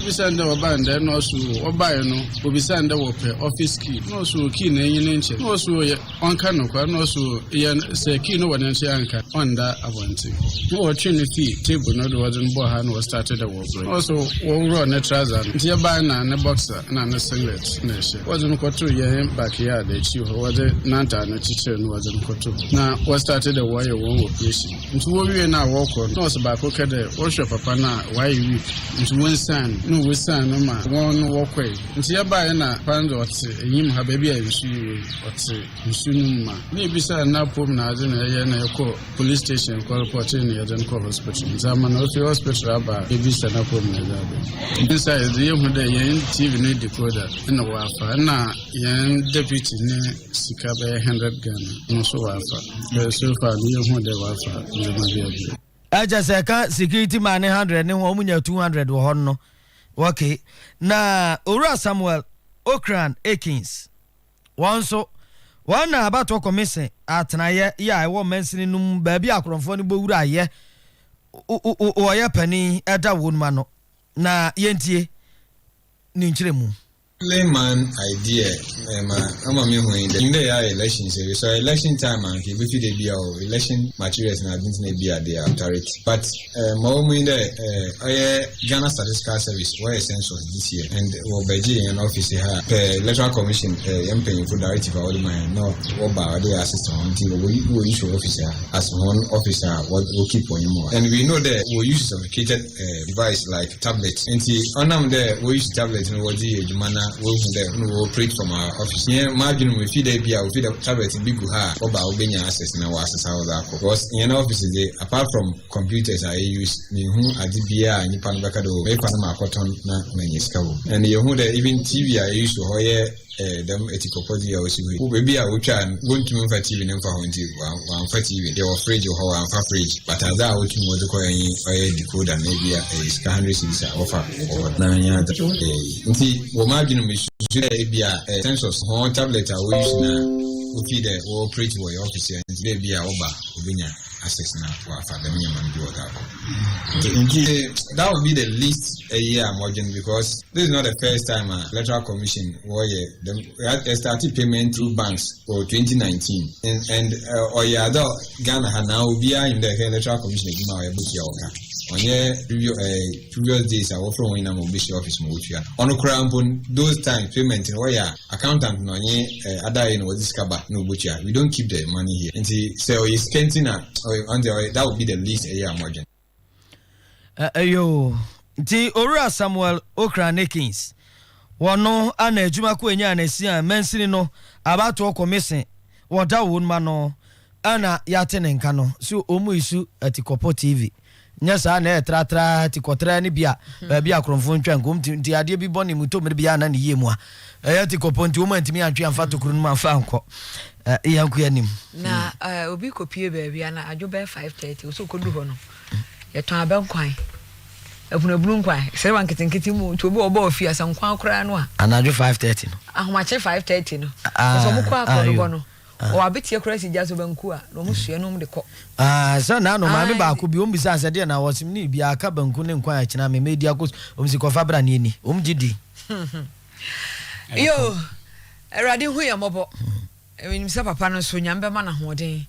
[SPEAKER 7] Bisa ndɛ wɔbaa ndɛ na ɔse oo wɔbaeɛ no obisa ndɛ wɔpɛ office key na ɔse oo key no enye no nkyɛ na ɔse oo yɛ ɔnka nokwar na ɔse oo eyɛ sɛ key no wɔ ne nso yɛanka ɔnnda abɔnten na wɔtwee no fii table no do wɔdze no bɔɔ ha na wɔstartee dɛ wɔɔbrɛ na ɔse wɔworɔɔ ne trouser no ntsi yɛbae na ne boxer na ne singlet na ɛhyɛ wɔdze no kɔtoo yɛnhe backyard ekyir hɔ wɔdze n'antar no kyekyeer no wɔdze no kɔtoo hɔ na wɔstartee dɛ wɔɔyɛ wɔn operation. Nti wowie no a wɔkɔ no, na ɔse baako kɛ dɛ wɔhwɛ papa no a ɔayɛ weak nti wonsian no, nna wosian no ma hɔn no wɔkɔe. Ntsi yɛbae na papa no dze ɔtse enyim ha beebi a nsu yi wei, ɔtse nsu no mu ma nna yebisaa no n'apɔwmu na adze na yɛyɛe na yɛkɔɔ police station kɔ repɔtee no yɛdze no kɔɔ hospital ntsi ama no ofi hospital aba a yebisa n'apɔwmu na yɛdze aba yi. Dɛm sae dze yehu dɛ hɛn TV no decoder nna ɔafa nna hɛn deputy ne. Sika bɛyɛ hundred Ghana no so wafa. Ɛɛ so far no yɛ hu dɛ wafa
[SPEAKER 1] ndzɛmba bi a bi. Ɛkyɛ sɛ ɛka security man ne hundred ne ho ɔmo nya two hundred wɔ hɔ no. Okay. Na Owura Samuel Ocran Akins wɔn nso wɔn na abatoɔ kɔmese atenayɛ yɛ a ɛwɔ mansini no mu baabi a akorɔmfoɔ no bɔ wura ayɛ wɔyɛ panin ɛda wɔn mu ano na yɛntie ne nkyerɛmu. Only man
[SPEAKER 8] idea ɛma ama me hu yi dɛ ndɛ yɛ ayɛ elections ewie so election time a nka ebefi dɛ bia o election materials na adze ntsi na bia they are tarret but eh ma ɔwɔ mu nye dɛ eh ɔyɛ Ghana statistical service wɔyɛ census this year and wɔ bɛgyee hɛn office ha pɛ electoral commission eh hɛn mpanyinfo directive a wɔdze ma hɛn na wɔba ɔdɛ yɛ assist hɔn ntsi wɔ wɔ use office ha as hɔn office a wɔ keep hɔn mu and we know dɛ wɔ use sophisticated eh, device like tablet nti ɔnam dɛ wɔuse tablet no wɔdze yɛ adwuma na wɔhu dɛ no wɔ operate from our office yɛn m'adwene mu efi dɛ bi a ofi dɛ tablet bi gu ha a wɔba a wobɛnya access na wɔasesa wɔdze akɔ because yɛn office dze apart from computers a yɛuse menhu adze biara a nyimpa no bɛka dɛ o oh, mekɔ no maakɔtɔn na manya sika wɔ mu and yɛhu dɛ even tv a yɛuse wɔ hɔ yɛ Ɛɛ, dɛm etsipɔpɔdze yi a osi hɔ yi, wo beebi a wotwaa no, wonntum mmfa TV no mmfa hɔ ntsi, wɔammfa TV no. Yɛwɔ fridge wɔ hɔ, wɔammfa fridge. But adze a wotum wɔdze kɔe nye ɔyɛ decoder na bi a ɛyɛ sika hundred cedis a wɔfa wɔ hɔ no. Na nnyɛ adze a wɔyɛ yi. Ntsi wɔ m'adwen mu, mesusu dɛ bi a ɛyɛ census hɔn tablet a wo use no a, wofii dɛ wɔ operate wɔ hɛn office ha ntsi dɛ bi a wɔba a, wobenya. ahyɛ sena wafa dɛm nneɛma no bi wɔ daa kɔ nti nti that would be the least ɛyɛ a mɔdwen because this is not the first time a electoral commission wɔyɛ dɛm ɛstarte payment through banks wɔ 2019 and and ɔyɛ uh, adɔ ghana ha na obiara nim dɛ ɛhwɛ electoral commission adwuma a ɔyɛ botua wɔka ɔnyɛ previous ɛɛ eh, previous days a wɔfrɛ wɔn nyinaa ma wɔbɛhyia office ma wɔtua ɔno koraa mpo those times payment no wɔyɛ a Accountant no nye adaye na wɔdze sika ba na wobotua, we don't keep the money here ntsi sɛ ɔyɛ sika ntsi na ɔno dze ɔyɛ that would be the least ɛyɛ a modwen. Ɛyɛ o,
[SPEAKER 1] nti Owura Samuel Ocran Akins, wɔno ana adwuma ko enyaa na si a mansini no abatoɔ kɔmisen wɔ Dawowon ma no ana yɛate ne nka no so omu isu ati kɔpɔ TV. nyɛ saa na ɛyɛ tratraa, tikɔtraa ne bi a baabi a korɔmfo ntwa nko nti nti adeɛ bi bɔ ne mu tɔ mmere bi a na ne yie mu a ɛyɛ tikɔ pɔ nti wɔn antumi antwe amfa tokuro no mu amfa ankɔ eh, yɛnko anim. na eh, obi
[SPEAKER 4] kɔpie baabi a na adwo bɛyɛ 5:30 ɔsɛ ɔkɔdu hɔ no yɛtɔn abɛ nkwan abunabunu nkwan serewa nketenkete mu nti obi wɔ ɔbɔ ɔfi asɛ nkwan koraa no a anadwo 5:30 no
[SPEAKER 1] ahomakye 5:30 no a- ɛsɛ
[SPEAKER 4] ɔmo kɔ ah, akɔnobɔ ayo. no ɔwɔ abeteɛ koraa si gya so banku a na wɔn soɛ na wɔn de kɔ. Ah, sɛ na no
[SPEAKER 1] maame baako bi wɔn bisa sɛ deɛ na wɔsim ne bi aka banku ne nkwan akyina me mɛ di akos wɔn si kɔfa bra ne ani wɔn gye di. Yo,
[SPEAKER 4] awurade hu yɛn mɔbɔ. Ɛnim sɛ papa no nso nyame bɛma no ahoɔden.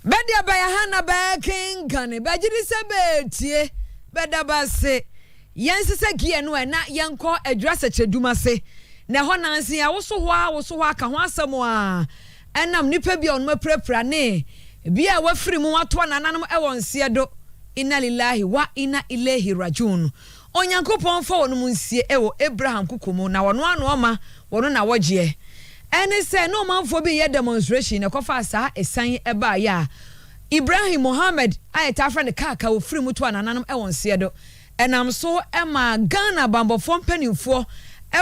[SPEAKER 4] Bɛde abaya ha na bɛkenkan ne bɛgye de sɛ bɛtie bɛda base. Yɛnsesɛ gear no ɛ na yɛnkɔ adwira sɛkyerɛdum ase. Na ɛhɔ nanse yɛawoso hɔ ara woso hɔ ara ka ho asɛm aa ɛnam nnipa bi a wɔnom apirapira ne bi a wɔafiri mu wɔato anananom wɔ nseɛ do. Inna lillahi wa inna ilehi rajuun. Onyankopɔn mfa wɔnom nsie wɔ Abraham koko mu na wɔno ara na ɔma wɔnom nawɔgyeɛ. Ɛne sɛ na ɔmanfoɔ bi reyɛ demonstration na ɛkɔfaa saa ɛsian yi baeɛ a Ibrahim Mohammed a yɛtaa frɛ no Kaka wɔfiri mu to anananom wɔ nseɛ do. Ɛnam so maa Ghana bammɔfoɔ mpanimfoɔ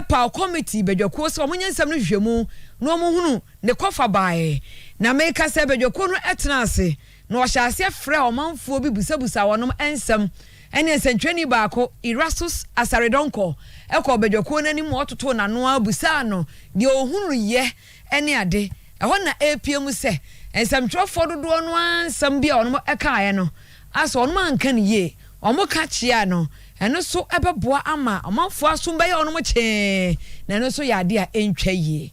[SPEAKER 4] paw kɔmiti badwakuo sɛ wɔnyɛ nsɛm no nhwehwɛmu na wɔhunu ne kɔfa baeɛ. Na meka sɛ badwakuo no tenaa ase na wɔhyɛɛ aseɛ frɛɛ ɔmanfoɔ bi bisabisaa wɔnom nsɛm. Ɛnneɛ nsɛntwerɛni baako, Erastus Asare-Donkor, kɔɔ badwakuo no anim ma wɔtotoo n'ano ara bisaa no deɛ ɔhunuiɛ ne ade. Ɛhɔ na ɛrepiam sɛ nsɛmtwerɛfoɔ dodoɔ no ara nsɛm bi a wɔnom kaeɛ no a sɛ wɔn anka no yie, wɔn ka kyea no, ɛno nso bɛboa ama ɔmanfoɔ asom bɛyɛ wɔn kyee, na ɛno nso yɛ adeɛ a ɛntwa yie.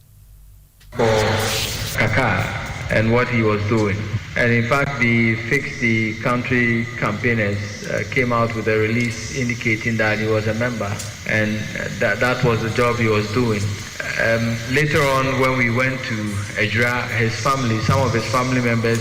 [SPEAKER 4] for
[SPEAKER 9] Kakar and what he was doing and in fact the Fix the Country campaigners came out with a release indicating that he was a member and that that was the job he was doing um later on when we went to Ejura his family some of his family members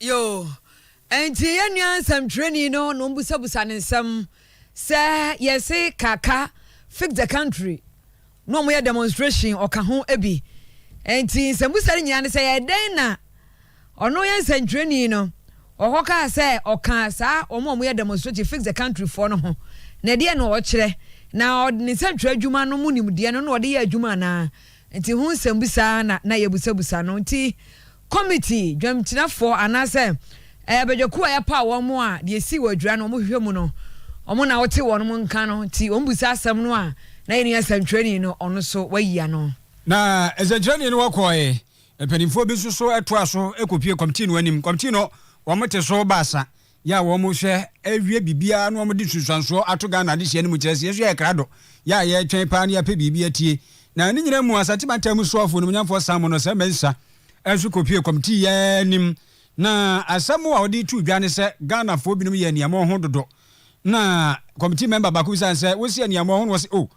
[SPEAKER 4] Yoo, ɛnti yɛn nua nsɛmtwerɛni no na ɔmbusabusa ne nsɛm sɛ yɛse Kaka fix the country na ɔmo yɛ demonstration ɔka ho bi ɛnti nsɛmbusa no nyinaa ne sɛ ɛdɛn na ɔno yɛn nsɛmtwerɛni no ɔkɔ kaa sɛ ɔka saa ɔmo ɔmo yɛ demonstration fix the country foɔ no ho na ɛdeɛ na ɔkyerɛ na ɔde ne nsɛmtwerɛ adwuma no mu nimdeɛ no na ɔde yɛ adwuma anaa Nti ho nsɛmbisa ara na na yɛbusabusa no. Nti kɔmiti, dwamgyinafɔ, anaasɛ ɛɛ badwakuo a yɛpaw wɔn mo a deɛ esii wɔ adwira no wɔn hwehwɛ mu no, wɔn na wɔte wɔn mo nka no, nti wɔn busa asɛm no a na yɛn nua nsɛnkyerɛni no ɔno so wayi ano. Na nsɛnkyerɛni
[SPEAKER 6] no wɔkɔɔɛ. Mpaninfoɔ bi nso so toa so kɔpue kɔmtii no anim. Kɔmtii no wɔn te so baasa. Yɛ a wɔhwɛ wie biribiara na wɔde nsunsuansoɔ ato Ghana adesua no mu kyerɛ sɛ yɛn nso yɛyɛ krado. Yɛ a yɛretwɛn paa na yɛapɛ biribi atie. Na ne nyinaa mu, Asante Mantam mu Soafoɔ Animuonyamfoɔ Sammor Nɔsah Mensah nso kɔpuee kɔmitii yi ara anim. Na asɛm a ɔde too dwa ne sɛ Ghanafoɔ binom yɛ aniammɔn ho dodo. Na kɔmitii mɛmba baako bisaa no sɛ, Wose aniammɔn ho? Na ɔse, Oh,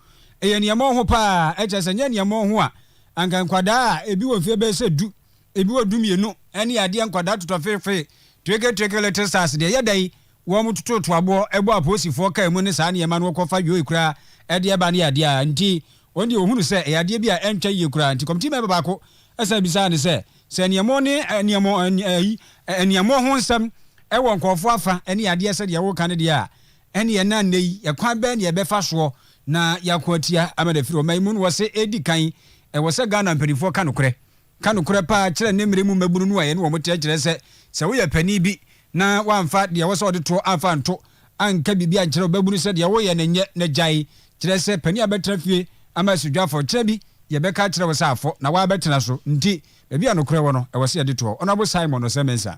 [SPEAKER 6] ɛyɛ aniammɔn ho paa. Ɛkyerɛ sɛ ɛnyɛ aniammɔn ho a, anka nkwadaa a ebi wɔ mfeɛ bɛyɛ sɛ du Ebi wɔ dumienu ne adeɛ nkwadaa totɔ feefe, treke treke little stars deɛ ɛyɛ dɛn wɔn tototo aboɔ bɔ apolisifoɔ car mu ne saa nneɛma no wɔkɔ fa yoi koraa ɛdeɛ ba ne adeɛ a nti wɔn deɛ wɔhunu sɛ ɛyɛ adeɛ bi a ɛntwa yie koraa nti committee member baako ɛsan bisaa no sɛ sɛ nneɛmo ne nneɛmo ɛyi nneɛmo ho nsɛm ɛwɔ nkɔɔfoɔ afa ne adeɛ sɛdeɛ wɔka no deɛ a ɛne ɛna nnɛ yi ɛkwan bɛɛ ne ɛbɛfa soɔ na yɛako atia ama no afiri ɔma yi mu no wɔ se ɛdi kan ɛwɔ sɛ Ghana mpanimfoɔ ka nokorɛ Ka nokorɛ paa kyerɛ ne mmerɛ mu mmabunu no a yɛne wɔn teɛ kyerɛ sɛ, sɛ woyɛ panin bi na woamfa deɛ ɛwɔ sɛ wode toɔ amfa anto, anka biribi ankyerɛ ɔbabunu sɛ deɛ woreyɛ no nyɛ na gyae, kyerɛ sɛ panin a bɛtena fie ama asi dwa afɔ kyerɛ bi deɛ bɛka akyerɛ wo sɛ afɔ na woabɛtena so nti baabi a nokorɛ wɔ no ɛwɔ sɛ yɛde toɔ Honourable Simon Osei-Mensah.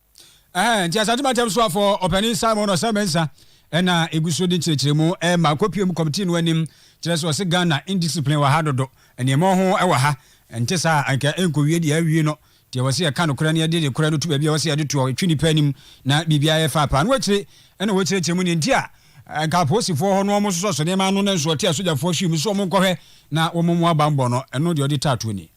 [SPEAKER 10] Ɛhɛn,
[SPEAKER 6] ntsi Asante Mantam Soafo Ɔpanyin Simon Osei Mensah na egu so dze nkyerɛkyerɛmu rema akopue mu kɔmtsii no anim, kyerɛ sɛ ɔse Ghana indiscipline wɔ ha dodo, nneɛma oho wɔ ha, nntse saa a anka ennkowie deɛ awie no, deɛ wɔse yɛka nokorɛ na yɛde nokorɛ no to baabi a wɔse yɛde toɔ, etwe nipa anim na biribiara yɛ faa paa. Ɛno akyire na wɔkyerɛkyerɛ mu deɛ nti a anka apolisifoɔ hɔ no wɔsosɔsosɔ nneɛma ano nanso ɔte asogyafoɔ hwii mu sɛ wɔnkɔhwɛ na wɔmmoa bammɔ no, ɛno deɛ ɔde taa toɔ nie.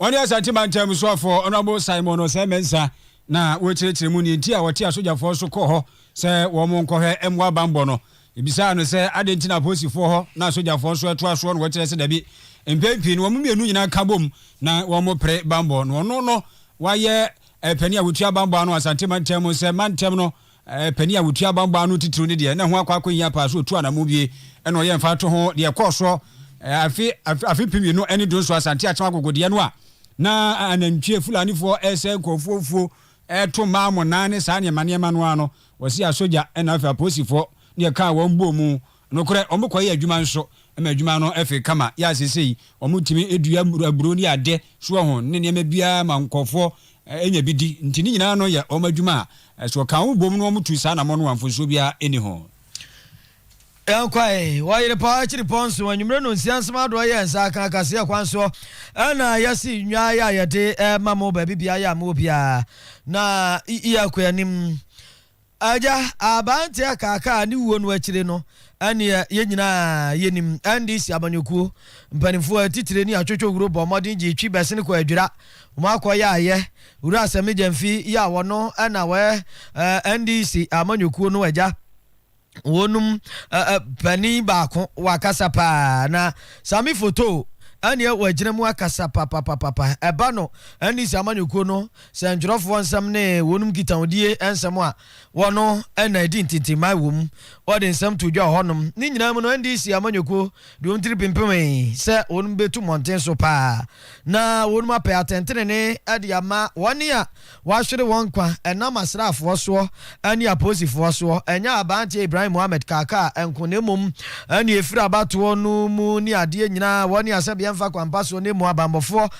[SPEAKER 6] Wɔne Asante Mantam Musuafoɔ Honourable Simon Osei Mensah na wɔrekyerɛkyerɛ mu neɛ nti a wɔte asogyafoɔ so kɔɔ hɔ sɛ wɔn nkɔhwɛ mmoa bammɔ no. Yɛbisaa no sɛ adɛn nti na apolisifoɔ hɔ na asogyafoɔ nso ɛtoa soɔ no wɔkyerɛ sɛ dabi. Mpɛn pii no wɔn mmienu nyinaa ka bom na wɔpere bammɔ no. Ɔno no wayɛ panin a wɔtua bammɔ ano Asante Mantam mu sɛ mantam no Panin a wɔtua bammɔ ano titiriw no deɛ, na ɛho akɔ akɔhia paa sɛ ɔtu anammɔn wie na ɔyɛ mfatoho ho. Deɛ ɛkɔɔ soɔ afe afe mpem mmienu ne du nso, Asante Akyem agogodeɛ no a na anantwie Fulanifoɔ resɛe nkurɔfoɔ mfuo, reto mmaa mmonnaa ne saa nneɛma nneɛma no ara no, wɔse asogya na afei apolisifoɔ ne ɛkaa wɔn bɔɔ mu Nokorɛ, wɔkɔyɛ adwuma nso, ma adwuma no fee kama, yɛ a seesei wɔtumi dua aburo ne adeɛ, soɔ ho, ne nneɛma biara ma nkorɔfoɔ nya bi di. Nti ne nyinaa no yɛ wɔn adwuma a, sɛ wɔka wɔn bom na wɔtu saa anammɔn no a, mfomsoɔ biara nni ho. Yɛkɔe
[SPEAKER 1] wɔ Yerepɔn akyiri pɔn nso, anwumerɛ nnɔnsia nsomadɔɔ yɛɛ nsa aka akaseɛ kwan soɔ, ɛna yɛasi nnwan a yɛde rema mo baabi biara a mowɔ biara, na yɛkɔ anim. Agya, aberanteɛ kaakaa ne wuo no akyire no, ɛnneɛ yɛn nyinaa yɛnim NDC amanyɔkuo mpanimfoɔ atitire ne atwotwo huro bɔɔ mmɔden gyee twi bɛsene kɔɔ Adwira, wɔn akɔyaeɛ, Wura Asɛmne Gyamfi yi a ɔno na ɔyɛ NDC amanyɔkuo no agya, wɔnom panin baako, wakasa pa ara, na Sami Foto, ɛnneɛ wagyina mu akasa papapapapa, ɛba no NDC amanyɔkuo no. Sɛ ntwerɛfoɔ nsɛm ne wɔnom nkitahodie nsɛm a wɔno na ɛdi ntintimmae wɔ mu, wɔde nsɛm too dwa wɔ hɔnom. Ne nyinaa mu no, NDC amanyɔkuo de wɔn tiri pempemee sɛ wɔnom bɛtu mmɔnten so pa ara na wɔnom apɛ atɛntenenee de ama wɔn a wɔahwere wɔn nkwa ɛnam asraafoɔ soɔ ne apolisifoɔ soɔ. Ɛnyɛ Aberanteɛ Ibrahim Mohammed Kaka nko na mmom nea ɛfiri abatoɔ no mu ne adeɛ nyinaa wɔne asɛbeɛ mfa kwan pa soɔ na mmom abanbɔfoɔ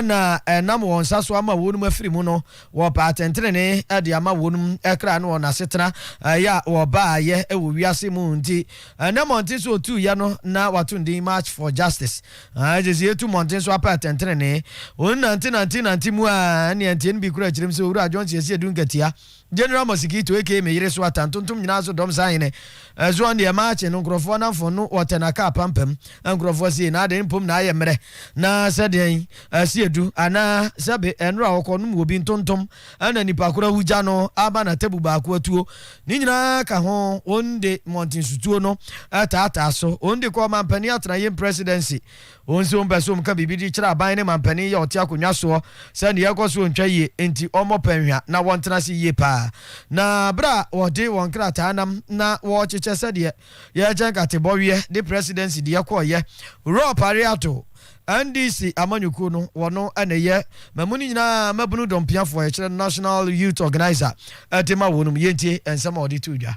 [SPEAKER 1] na ɛnam wɔn nsa so ama wɔnom afiri mu no, wɔpɛ atɛntenenee de ama wɔnom kra ne wɔn asetena yɛ a wɔbaayɛ wɔ wiase mu nti. Ɛnnɛ mmɔnten so otuuyɛ no na wɔato no din March for Justice. Ɛsɛ sɛ yɛtu mmɔnten so apɛ atɛntenenee. Wɔnante nante nante mu a ɛnneɛ nteɛ no bi koraa kyerɛm sɛ Owura John Siesie Dunkatia General Mosikito aka me yere so ata ntontom nyinaa so dɔm saa hene ɛsoɔ ndeɛ maakye no nkorɔfoɔ namfo no wɔtɛ na kaa pampam nkorɔfoɔ sei na adɛn mpom na ayɛ mmerɛ na sɛ deɛn asi adu anaa sɛbe ɛnora a ɔkɔ nom wɔbi ntontom ɛna nipa koro awu gya no aba na tabu baako atuo ne nyinaa ka ho wɔn de mmɔnten sutuo no ɛtaataa so wɔn de kɔ ɔmampanin atenaeɛm presidency Wɔn nso mpɛ sɛ wɔka biribi de kyerɛ aban ne manpanin yi a ɔte akonnwa soɔ sɛ nea ɛrekɔ so ntwa yie, enti wɔmmɔ pɛ nhwa na wɔntena ase yie pa ara. Na berɛ a wɔde wɔn nkrataa nam na wɔrekyekyɛ sɛdeɛ yɛrekyɛ nkate bɔweɛ de Presidency deɛ kɔeɛ, Rob Areato, NDC amanyɔkuo no, ɔno na ɛyɛ Mamu no nyinaa mmabunu dɔmpiafoɔ, yɛkyerɛ no National Youth Organiser, de ma wɔn. Yɛntie nsɛm a ɔde too dwa.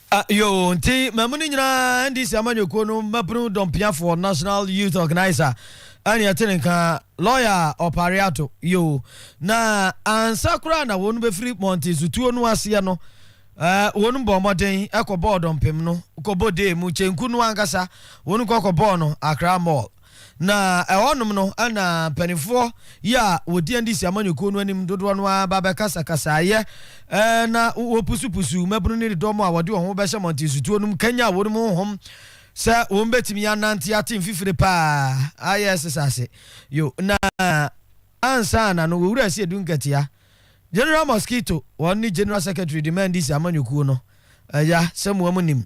[SPEAKER 11] A yoo,
[SPEAKER 1] nti mmamu no nyinaa NDC amanyɔkuo no mmabunu dɔmpiafoɔ, National Youth Organiser, ɛne ɛte ne nka, lɔya ɔpare ato, yoo, na ansa koraa na wɔn bɛfiri Monte Sutuo no aseɛ no, eh, wɔn bɔɔ mmɔden kɔbɔɔ dɔmpem no, kɔbɔ dee mu, kyenku no ankasa, wɔn kɔ kɔbɔɔ no Accra Mall. Na ɛhɔnom no na mpanimfoɔ yi a wɔdi NDC amanyɔkuo no anim dodoɔ no ara ba bɛkasakasaeɛ na wɔpusupusu mmabunu ne dɔm a wɔde wɔn ho bɛhyɛ mmɔnten sutuo no mu kanyaa wɔn mu honhom sɛ wɔn bɛtumi anante ate mfifire paa ayɛ sesase yo na ansa na no wɔwura asi edu nkatia General Mosquito wɔn ne General Secretary de ma NDC amanyɔkuo no ɛya sɛ moa mu nim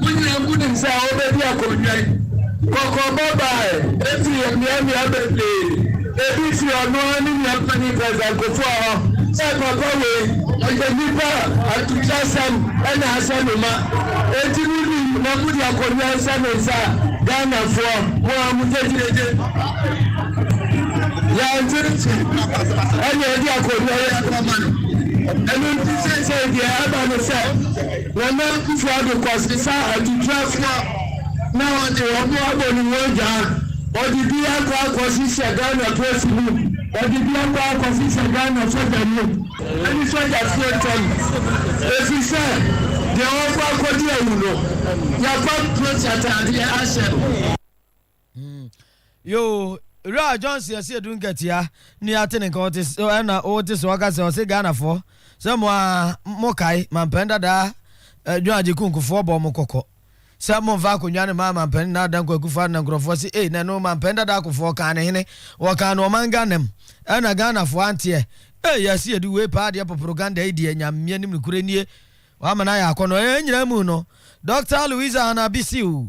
[SPEAKER 12] Mo nyinaa mu nim sɛ wobedi akonnwan. Kɔkɔbɔ bae. Enti yɛ mmeammea bebree. Ebi fi ɔno ara ne nua panyin President Kufuor hɔ sɛ papa wei ɔyɛ nipa a atokyerɛsɛm na ahyɛ no ma. Enti mo nim na mode akonnwa nhyɛ ne nsa a Ghanafoɔ mo ara mo gyegyeegye. Yɛante nti na yɛde akonnwa yi akɔma no. Ɛno nti seesei deɛ aba ne sɛ. Nana Akuffo Addo Kwasi fa atutrafo a na ɔde wɔn abɔ ne ho adwaa, ɔde bi akɔ akɔhyehyɛ Ghana Polisi mu, ɔde bi akɔ akɔhyehyɛ Ghana Sogya mu ne Sogyafo ntam, efisɛ deɛ ɔkɔ akɔdi awu no, yɛakɔ akɔsi atadeɛ ahyɛ no. Hmm.
[SPEAKER 1] Yoo, Wura Johnson yɛsi edu nkatia ne ate ne nka ɔte so ɛna ɔte so ɔka sɛ ɔse Ghanafoɔ sɛ mo a mo kae mampɛn dadaa John Agye Kunkufoɔ bɔ mo kɔkɔ sɛ mo mfa akonnwa no maa mampɛn Nana Dankwa Akufo-Addo na nkurɔfoɔ se ei na ɛno mampɛn dadaa akofoɔ kaa ne hene wɔkaa no ɔman Ghana mu ɛna Ghanafoɔ anteɛ ei yɛse edu wei paa deɛ poproganda yi deɛ Nyame anim nokorɛ nie wama no ayɛ akɔnɔ ɛɛ nyinaa mu no Dɔkta Louisa Anna Bisiw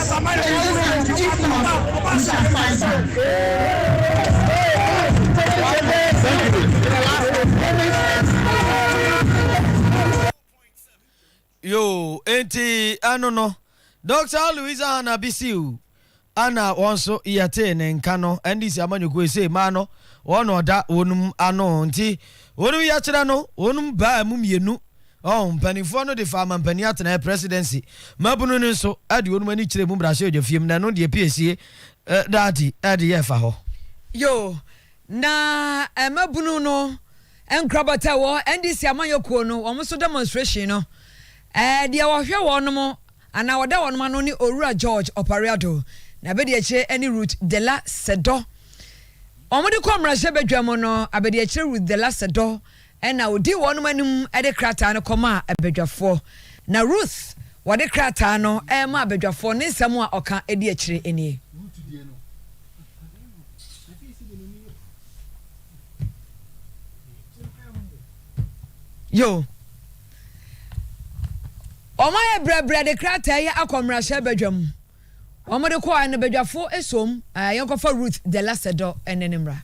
[SPEAKER 1] yoo enti ɛno no dɔkta louisa hana bisiw ana wɔn nso yɛtee ne nka no ndc amanyɔkuo yi sɛ mmaa no wɔn na ɔda wɔn ano nti wɔn yɛkyerɛ no wɔn baa mu mmienu Ɔn, mpanimfoɔ no de faa mampanin atenaeɛ, presidency, mmabunu no nso de wɔn ani kyerɛɛ mu mmarahyɛbadwafie mu, na ɛno deɛ piesie daa adi de yɛɛ fa hɔ. Yoo,
[SPEAKER 4] na mmabunu no nkorabata a ɛwɔ NDC amanyɔ kuo no, wɔn nso demonstration no, deɛ ɔhwɛ wɔnom anaa ɔda wɔnom ano ne Owura George Opare-Addo, na abadiakyire ne Ruth Dela Sedɔ. Wɔn de kɔɔ mmarahyɛbadwa mu no, abadiakyire Ruth Dela Sedɔ Ɛnna ɔdii wɔnom anim de krataa no kɔmaa badwafoɔ. Na Ruth wɔde krataa no remaa badwafoɔ ne nsɛm a ɔka di akyire nie. Yo. Wɔayɛ brɛbrɛ de krataa yi akɔ mmarahyɛ badwa mu. Wɔde kɔɔɛ no badwafoɔ soom, yɛnkɔfa Ruth de Lasedɔ ne ne mmara.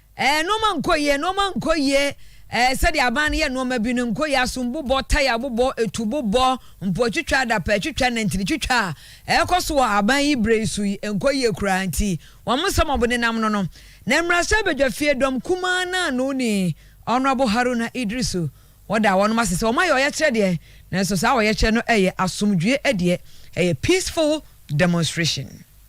[SPEAKER 4] Ɛɛ, nnoɔma nkɔ yie, nnoɔma nkɔ yie, ɛɛ, sɛdeɛ aban no yɛ nnoɔma bi no nkɔ yie, asom bobɔ, taya bobɔ, etu bobɔ, mpoa twitwa, adapaa twitwa, nantini twitwa a ɛrekɔ so wɔ aban yi berɛ yi so yi nkɔ yie koraa nti wɔn nsɛm a wɔdenam no no na mmarahyɛ badwa fie dɔm kumaa no ano ni Honourable Haruna Iddrisu wɔda wɔnom ase sɛ wɔayɛ ɔyɛkyerɛ deɛ nanso saa ɔyɛkyerɛ no ɛyɛ asomdwoeɛ deɛ ɛyɛ peaceful demonstration.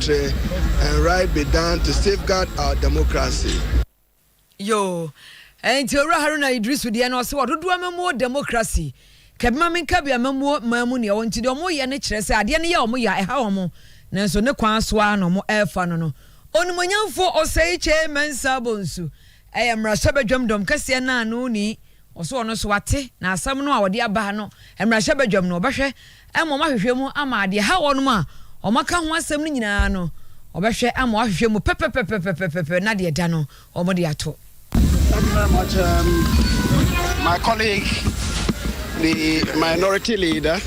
[SPEAKER 13] Tre and right be done to safeguard our democracy. Yoo
[SPEAKER 4] ɛnti owura Haruna Idrisu deɛ no ɔse wɔdodoɔ amammuo democracy kɛbima menka bi amammuo maa mu neɛ wɔnti deɛ ɔmo yɛ ne kyerɛ sɛ adeɛ no yɛ ɔmo yɛ a ɛha ɔmo nanso ne kwan so ara na ɔmo ɛɛfa no no onimonyamfo Osei Kyei Mensah Bonsu Ɛyɛ mmarahyɛbadwam dɔm kɛseɛ no a no ni, ɔso ɔno nso wate, na asɛm no a ɔde aba ha no, mmarahyɛbadwam no ɔbɛhwɛ ama wɔahwehwɛ mu ama deɛ ɛha wɔnom a wɔaka ho asɛm no nyinaa no, ɔbɛhwɛ ama wɔahwehwɛ mu pɛpɛpɛpɛpɛpɛpɛ na deɛ ɛda no, wɔde ato. Thank you very
[SPEAKER 14] much, um, my colleague, the minority leader.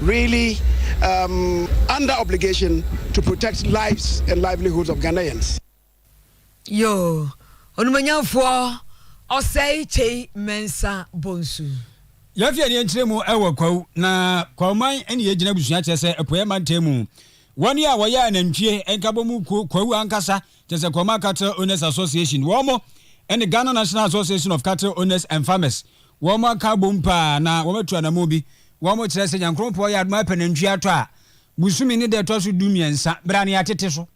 [SPEAKER 14] really um under obligation to protect lives and livelihoods of Ghanaians.
[SPEAKER 4] Yo, onumanyamfoɔ ɔsɛe kyei mɛnsa bonsu.
[SPEAKER 6] Yɛafi ani nkyerɛ mu wɔ kwawu na kwawuman ne yɛgyina abusua kyerɛ sɛ apueɛ mantam mu wɔn a wɔyɛ anantwie nkabɔ mu kuo kwawu ankasa kyerɛ sɛ Kurama Cattle Owners Association, wɔn ne Ghana National Association of Cattle Owners and Farmers, wɔn aka abom paa na wɔatu anammɔn bi. Wɔkyerɛ sɛ Nyankoropɔn yɛ adom apɛ nantwie atɔ a, bosome ne da ɛtɔ so du mmiɛnsa, berɛ a ne yɛatete so.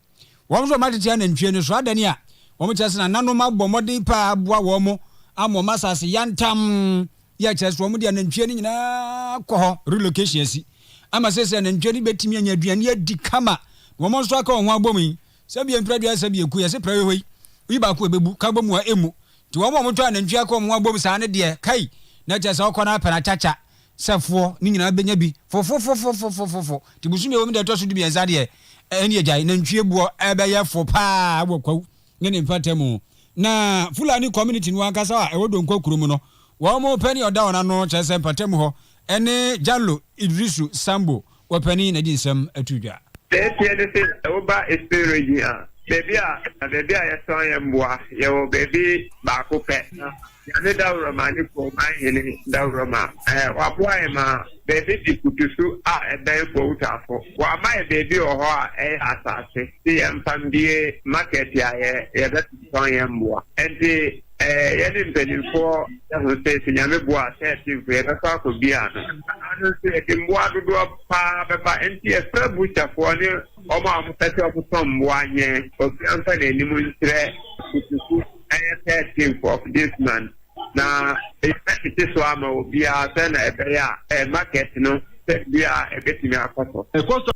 [SPEAKER 6] Wɔn nso wɔn atete anantwie no so adane a, wɔkyerɛ sɛ nananom abɔ mmɔden paa aboa wɔn ama wɔn asase yantam, yɛ kyerɛ sɛ wɔn de anantwie no nyinaa kɔ hɔ, relocation asi, ama seesei anantwie no bɛtumi anya aduane adi kama na wɔn nso aka wɔn ho abom yi. Sɛbia mpira aduasa sɛ bi ɛku yɛse prɛwɛ hɔ yi oyi baako ɛbɛbu ka bɔ mu a ɛmmu nti wɔn a wɔtɔ anantwie akɔ wɔn ho abom saa no deɛ kai na kyerɛ sɛ ɔkɔ no apɛ no akyakya sɛ foɔ no nyinaa bɛnya bi fofofofofofofofo nti bosome ɛwɔ mu da ɛtɔ so dumiɛnsa deɛ ɛne agyae nantwie boɔ ɛbɛyɛ fo paa wɔ kwawu ne ne mfata mu na Fulani community no ankasa a ɛwɔ Donkwa kuro mu no wɔn pɛ ne ɔda wɔn ano kyerɛ sɛ mpata mu hɔ ɛne Jallo Idrisu Sambo Wɔpɛ ne na di nsɛm to dwa. Deɛ ɛteɛ ne se
[SPEAKER 15] wo ba Eastern Region a, baabi a na baabi a yɛtɔn yɛn mmoa, yɛwɔ baabi baako pɛ. Na Nyame Dawuroma ne Kuroman Hene Dawuroma, ɛɛ, waboa yɛn ma baabi te kutusu a ɛbɛn Fowtafo. Wama yɛ baabi wɔ hɔ a ɛyɛ asaase, se yɛmfa mbie market a yɛ, yɛbɛtotɔn yɛn mmoa. Ɛnti. Eh, yɛne mpanimfoɔ ho sɛ sɛ Nyame boa a sɛ ɛte mpo yɛbɛkɔ akɔbia no. Ano nso yɛde mmoa dodoɔ paa bɛba nti yɛfrɛ butcherfoɔ ne wɔn a wɔpɛ sɛ wɔtɔn mmoa nyɛ obiara mfa n'anim nkyerɛ kutuku ɛyɛ thirteenth of this month na yɛbɛtete so ama obiara sɛ na ɛbɛyɛ a eh, market no sɛ biara ɛbɛtumi akɔ so.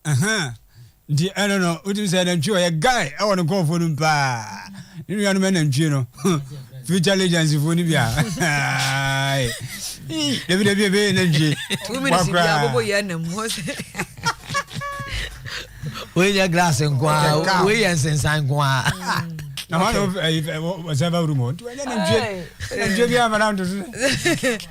[SPEAKER 15] Ahaa
[SPEAKER 6] nti ɛno no wotumi sɛ nantwie wɔ yɛ guy ɛwɔ no nkɔɔfoɔ no mu paa ne nua no mɛ nantwie no future legends foɔ no bi a dabi dabi ɛbɛyɛ nantwie wakoraa
[SPEAKER 1] wei yɛ glass nkoa wei yɛ nsensan nkoa na maa na
[SPEAKER 6] sɛ bɛ wuru mu nti wɔnyɛ nantwie nantwie bi amana ntoso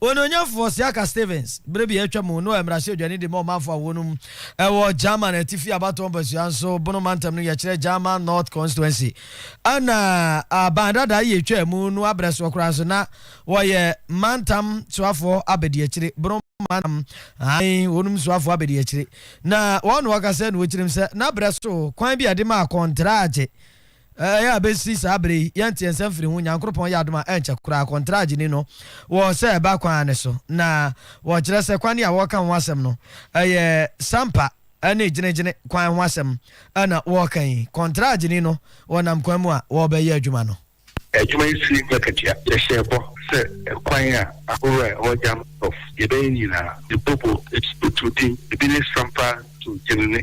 [SPEAKER 1] Onuonyamfo Osiaka Stevens, bere bi a atwa mu no a mmarahyɛbadwani de ma ɔmanfo a wɔnum wɔ German Atifi abatoɔ mpasua nso Bono mantam no yɛkyerɛ German North Constituency a na aban dada yi retwaa mu no abrɛ soɔ koraa nso na wɔyɛ mantam soafoɔ abadiakyire Bono mantam ae wɔnum soafoɔ abadiakyire na wɔn na wɔka sɛ na wɔkyirim sɛ na abrɛ so kwan bi a ɛde ma akɔntragye Ɛyɛ a besi saa bere yi yɛntee nsɛm firi ho. Nyankoropɔn yɛ adom a ɛnkyɛ koraa kɔntraa gyeni no wɔ sɛ ɛba kwan ara ne so. Na wɔkyerɛ sɛ kwane a wɔreka ho asɛm no ɛyɛ sampa ne gyene-gyene kwan ho asɛm na wɔreka yi. Kɔntraa gyeni no wɔ nam kwan mu a wɔrebɛyɛ adwuma no. Adwuma yi sii
[SPEAKER 16] mu akatua. Yɛhyɛɛ bɔ sɛ kwan a ahorow a ɛwɔ Jam Sɔf yɛbɛyɛ nyinaa, Mpopo, Esukutu, Din, ebi ne sampa to gyene-ne.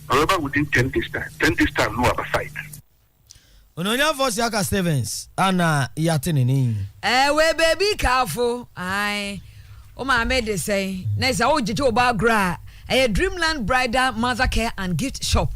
[SPEAKER 16] Ɔbɛba within ten days time ten days time no waba site.
[SPEAKER 1] Onuonyamfoɔ Siaka Stevens a na yɛate ne ne yi. Ɛɛ wei baby
[SPEAKER 4] kaafo ae wo maame de sɛn na sɛ wogyegye wo ba agorɔ a ɛyɛ Dreamland Bridal Mother Care and Gift Shop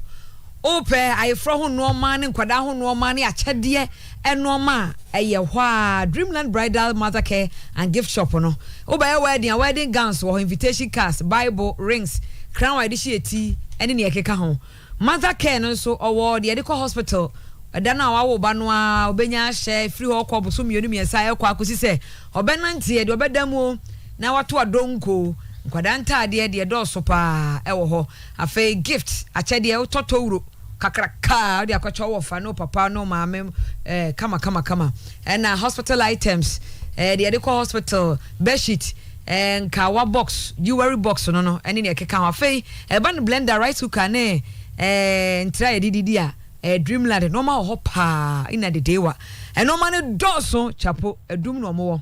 [SPEAKER 4] wopɛ ayeforɔ ho nnoɔma ne nkwadaa ho nnoɔma ne akyɛdeɛ nnoɔma a ɛyɛ hɔ ara, Dreamland Bridal Mothercare and Gift Shop no. Wobɛyɛ wedding a, wedding gowns wɔ hɔ, invitation cards, Bible, rings, crown a yɛde hyɛ yɛn ti ne nea ɛkeka ho. Mother care no nso, ɔwɔ deɛ yɛde kɔ hospital, ɛda no a wawo wo ba no ara, ɔbɛnya ahyɛ, ɛfiri hɔ rekɔ bosome mmienu mmiɛnsa a ɛrekɔ akɔsi sɛ ɔbɛnanteɛ, deɛ ɔbɛda mu o, na wato adonko o, nkwadaa ntaadeɛ deɛ ɛdɔɔso pa ara wɔ hɔ. Afei gift, akyɛdeɛ, wotɔ towuro. kakraka a ɔde akɔkyɛ wo wɔfa ne wo papa ne wo maame eh, kama kama kama ɛna hospital items eh, deɛ yɛde kɔ hospital bedsheet eh, nkawa box jewelry box no no ɛne deɛ ɛkeka ho afei ɛba no blender rice cooker ne eh, ntira yɛde didi a eh, dreamland nneɛma wɔ hɔ paa ina dedewa nneɛma no dɔɔso chapo adum na ɔmowɔ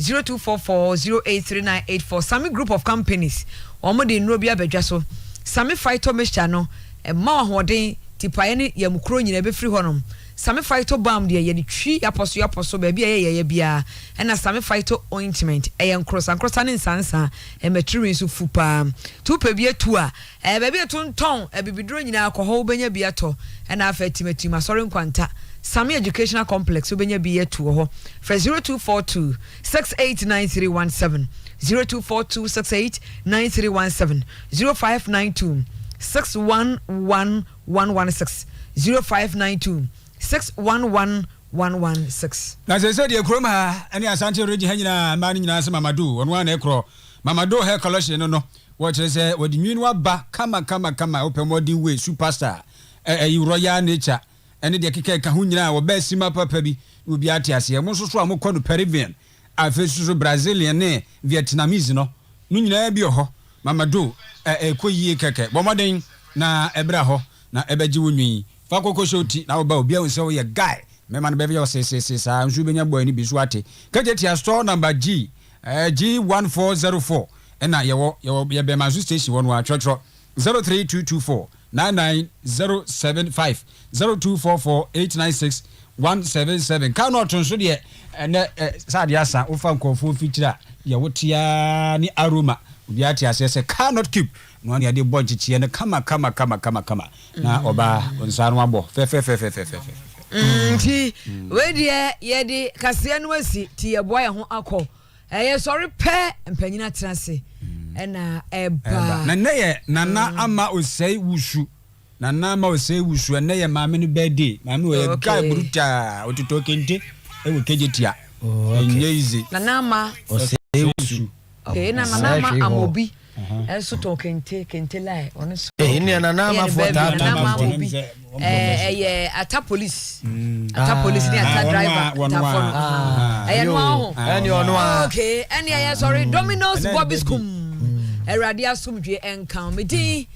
[SPEAKER 4] Zero two four four zero eight three nine eight four Sami group of companies wɔn de nnuro bi aba dwa so Sami phyto mixture no ɛma wo ahoɔden tipaeɛ ne yamukuro nyina ɛbɛfiri hɔnom Sami phyto balm deɛ yɛde twi yapɔ so yapɔ so baabi a ɛyɛ yaeɛ biara ɛna Sami phyto ointment ɛyɛ nkorosa nkorosa ne nsansa ɛma tiriwii nso fu paa nti wopɛ bi atu a Ɛyɛ baabi a yɛtontɔn abibiduro nyinaa, kɔ hɔ wobɛnya bi atɔ. Ɛna afei Atim Atim Asɔre Nkwanta, Same Educational Complex, wobɛnya bi atu wɔ hɔ. Frɛ 0242 689317, 0242 689317, 0592 611116, 0592 611116. Na seesei deɛ kurom
[SPEAKER 6] ha ne Asante Region ha nyinaa mmaa no nyinaa se Mama Do, ɔno ara na ɛkorɔ. Mama Do Hair Collection no no, Wɔ kyerɛ sɛ wɔde nwin aba kama kama kama wopɛ modern way super star ɛ ɛyi royal nature ɛne deɛ ɛkeka ɛka ho nyinaa wɔbɛɛ sima papa bi na obiara te aseɛ mo nso so a mo kɔ no Peruvian afei nso so Brazilian ne Vietnamese no no nyinaa bi wɔ hɔ mama do ɛ ɛkɔ yie kɛkɛ bɔ mmɔden na ɛbra hɔ na ɛbɛgye wo nwin fa kɔ kɔhyɛ wo ti na woba obiara hu sɛ woyɛ guy mɛma no bɛyɛ wo seeseesee saa nso wobɛnya boy no bi so ate kɛtɛtia store number G Ɛɛ G one four zero four ɛna yɛwɔ yɛwɔ yɛ Bɛmanso station hɔ no ara twerɛtwerɛ zero three two two four nine nine zero seven five zero two four four eight nine six one seven seven kaa na ɔto nso deɛ ɛnɛ ɛ sɛ adeɛ asa wofa nkurɔfoɔ fikyiri a deɛ wote ara ne aroma obiara te aseɛ sɛ car not cube Noa nea de bɔ nkyekyeɛ no kama kama kama kama kama na ɔbaa nsa no abɔ fɛfɛfɛfɛfɛfɛfɛfɛfɛ. Nti
[SPEAKER 4] wei deɛ yɛde kaseɛ no asi ti yɛboa yɛn ho akɔ ɛyɛ sɔre pɛ mpanyin atena ase ɛna ɛba. Na nnɛ yɛ nana
[SPEAKER 6] ama osɛe wusu nana ama osɛe wusu ɛnɛ yɛ maame no birthday maame wɔ yɛ guy brutaa ototɔ kente ɛwɔ kegye tia ɛnyɛ easy. Nana ama
[SPEAKER 4] osɛe wusu.
[SPEAKER 6] Okay, na nana
[SPEAKER 4] ama amobi ɛnso tɔn kente kente lai ɔno nso. ɛyɛ ne baabi nana ama
[SPEAKER 1] amobi
[SPEAKER 4] ɛyɛ ata polisi ata polisi ne ata driver tafo no ɛyɛ no aho okay
[SPEAKER 1] ɛne ɛyɛ
[SPEAKER 4] sɔre dominoes bobby skum awurade asomdwe ɛnka me din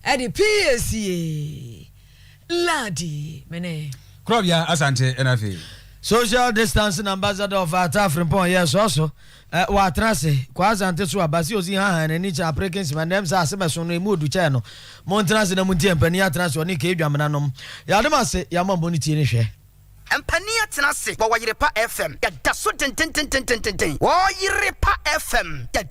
[SPEAKER 4] ɛde psa ladi mene. kurɔbea asante
[SPEAKER 6] ɛna afei. social
[SPEAKER 1] distancing ambassador of atafrempɔn yɛ sɔɔso. Eh, ɔatena ase, Kwaa Asante so a, Bassey Ozi hãhãɛ n'ani kyerɛ Apereke Nsima, ndɛ msɛ ase bɛso no, emu odu kyɛɛ no. Montsena ase na muntsie mpanin atsena ase ɔne Kay Dwamena nom. Yɛada mo ase, yɛama mo no tie ne hwɛ. Mpanin
[SPEAKER 3] atsena ase wɔ Ɔyerepa FM, yɛda so dzendzendzendzendzendzendzen, Ɔyerepa FM, yɛde.